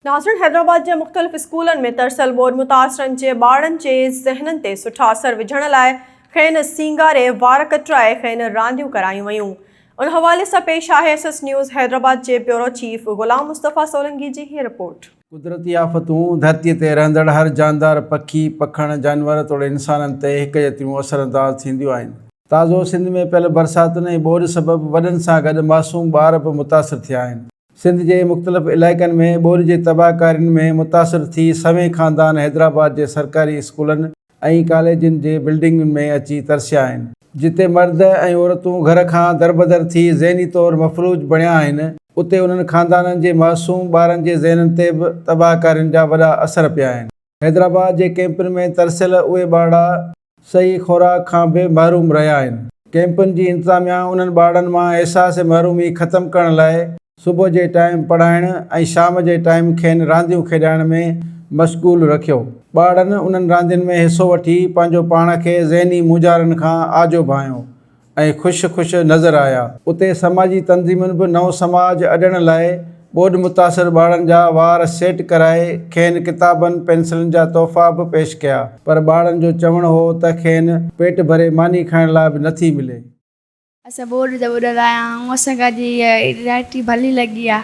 ناظرين حيدرآباد جي مختلف اسڪولن ۾ ترسيل ٻوڏ متاثرن جي ٻارڙن جي ذهنن تي سٺا اثر وجهڻ لاء کين سينگاري وار ڪٽرائي کين رانديون ڪرايون ويون ان حوالي سان پيش آهي ايس ايس نيوز حيدرآباد جي بيورو چيف غلام مصطفيٰ سولنگي جي هي رپورٽ. قدرتي آفتون، ڌرتيء تي رهندڙ هر جاندار، پکي، پکڻ، جانور توڙي انسانن تي هڪجهتيون اثر انداز ٿينديون آهن. تازو سنڌ ۾ پيل برساتن ۽ ٻوڏ سبب وڏن سان گڏ معصوم ٻار به متاثر ٿيا آهن. سنڌ جي مختلف علائقن ۾ ٻوڏ جي تباهڪارين ۾ متاثر ٿي سوين خاندان حيدرآباد جي سرڪاري اسڪولن ۽ ڪاليجن جي بلڊنگن ۾ اچي ترسيا آهن، جتي مرد ۽ عورتون گهر کان دربدر ٿي ذهني طور مفلوج بڻيا آهن، اتي انهن خاندانن جي معصوم ٻارن جي ذهنن تي به تباهڪارين جا وڏا اثر پيا آهن. حيدرآباد جي ڪئمپن ۾ ترسيل اهي ٻارڙا صحيح خوراڪ کان به محروم رهيا آهن، ڪئمپن جي انتظاميا انهن ٻارڙن مان احساس محرومي ختم ڪرڻ لاء صبح جي ٽائيم پڙهائڻ ۽ شام جي ٽائيم کين رانديون کيڏائڻ ۾ مشغول رکيو، ٻارڙن انهن راندين ۾ حصو وٺي پنهنجو پاڻ کي ذهني مونجهارن کان آجو ڀانئيو ۽ خوش خوش نظر آيا. اتي سماجي تنظيمن به نئون سماج اڏڻ لاء ٻوڏ متاثر ٻارڙن جا وار سيٽ ڪرائي کين ڪتابن پينسلن جا تحفا به پيش ڪيا پر ٻارڙن جو چوڻ هو ته کين پيٽ ڀري ماني کائڻ لاء به نٿي ملي. اسين ٻوڏ ته ٻوڏل آهيا آئون اسان کي اڄ هيء رائٽري ڀلي لڳي آهي.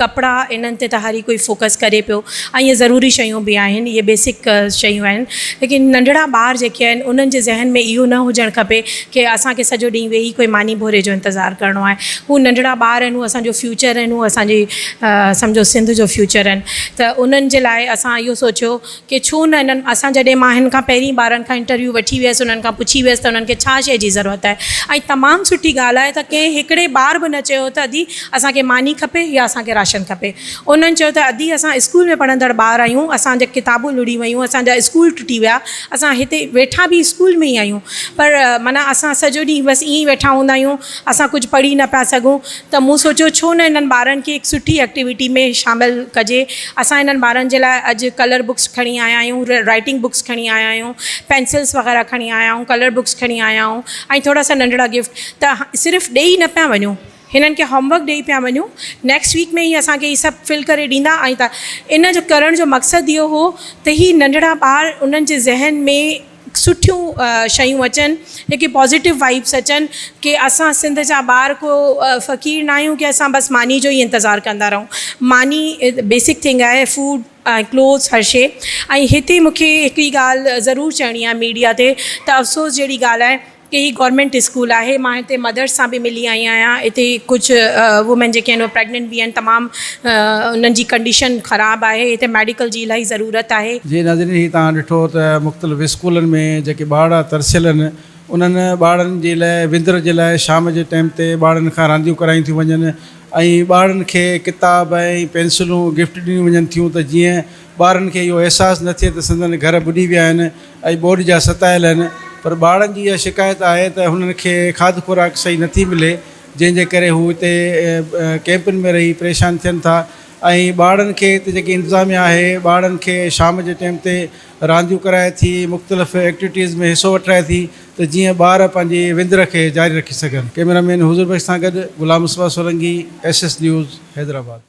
ڪپڙا انهن تي ته هر ئي ڪوئي فوڪس ڪري پيو ۽ اهي ضروري شيون به آهن اهي بيسڪ شيون آهن ليڪن ننڍڙا ٻار جيڪي آهن انهن جي ذهن ۾ اهو نه هجڻ کپي ڪي اسان کي سڄو ڏينهن ويهي ڪوئي ماني ڀوري جو انتظار ڪرڻو آهي هو ننڍڙا ٻار آهن هو اسانجو فيوچر آهن هو اسانجي سمجهو سنڌ جو فيوچر آهن ته انهن جي لاء اسان اهو سوچيو کي ڇو نه انهن اسان جڏهن مان هن کان پهرين ٻارن کان انٽرويو وٺي ويس انهن کان پڇي ويس ته انهن کي ڇا شئي جي ضرورت آهي ۽ تمام سٺي ڳالهه آهي ته ڪنهن هڪڙي ٻار به نه چيو ته ادي اسان کي ماني کپي يا اسان کي راشن کپي انهن چيو ته ادي اسان اسڪول ۾ پڙهندڙ ٻار آهيون اسان جا ڪتابون لڙهي ويون اسان جا اسڪول ٽٽي ويا اسان هتي ويٺا به اسڪول ۾ ئي آهيون پر معنيٰ اسان سڄو ڏينهن بس ائين ئي ويٺا هوندا آهيون اسان ڪجهه پڙهي نه پيا سگهون ته مون سوچيو ڇو نه انهن ٻارن کي هڪ سٺي ايڪٽيوٽي ۾ شامل ڪجي. اسان انهن ٻارن جي لاء اڄ ڪلر بڪس کڻي آيا آهيون، رائيٽنگ بڪس کڻي آيا آهيون، پينسلس وغيره کڻي آيا آهيون، ڪلر بڪس کڻي آيا آهيون ۽ ٿورا سا ننڍڙا گفٽ ته صرف ڏيئي نه پيا وڃون هنن کي هوم ورڪ ڏيئي پيا وڃون نيڪسٽ ويڪ ۾ هي اسان کي هي سڀ فل ڪري ڏيندا ۽ ان جو ڪرڻ جو مقصد اهو هو ته هي ننڍڙا ٻار انهن جي ذهن ۾ سٺيون شيون اچن جيڪي پازيٽو وائبس اچن ڪي اسان سنڌ جا ٻار ڪو فقير نه آهيون ڪي اسان بس ماني جو ئي انتظار ڪندا رهون ماني بيسڪ ٿنگ آهي فوڊ ۽ ڪلوز هر شي ۽ هتي مونکي هڪڙي ڳالهه ضرور چئڻي آهي ميڊيا تي ته افسوس جهڙي ڳالهه آهي هي گورنمينٽ اسڪول آهي مان هتي مدرس سان به ملي آئي آهيان هتي ڪجهه وومين جيڪي آهن پريگننٽ به آهن تمام انهن جي ڪنڊيشن خراب آهي هتي ميڊيڪل جي الاهي ضرورت آهي. جي ناظرين هي توهان ڏٺو ته مختلف اسڪولن ۾ جيڪي ٻارڙا ترسيل آهن انهن ٻارڙن جي لاء وندر جي لاء شام جي ٽيم تي ٻارڙن کان رانديون ڪرايون ٿيون وڃن ۽ ٻارڙن کي ڪتاب ۽ پينسلون گفٽ ڏنيون وڃن ٿيون ته جيئن ٻارن کي اهو احساس نه ٿئي ته سندن گهر ٻڏي ويا آهن ۽ ٻوڏ جا ستايل آهن پر ٻارڙن جي اها شڪايت آهي ته هنن کي کاڌ خوراڪ صحيح نه ٿي ملي جنهن جي ڪري هو هتي ڪئمپن ۾ رهي پريشان ٿين ٿا ۽ ٻارڙن کي هتي جيڪي انتظاميا آهي ٻارڙن کي شام جي ٽيم تي رانديون ڪرائي ٿي مختلف ايڪٽويٽيز ۾ حصو وٺرائي ٿي ته جيئن ٻار پنهنجي وندر کي جاري رکي سگهن ڪئميرا مين حضور بخش سان گڏ Ghulam Mustafa Solangi S S news Hyderabad.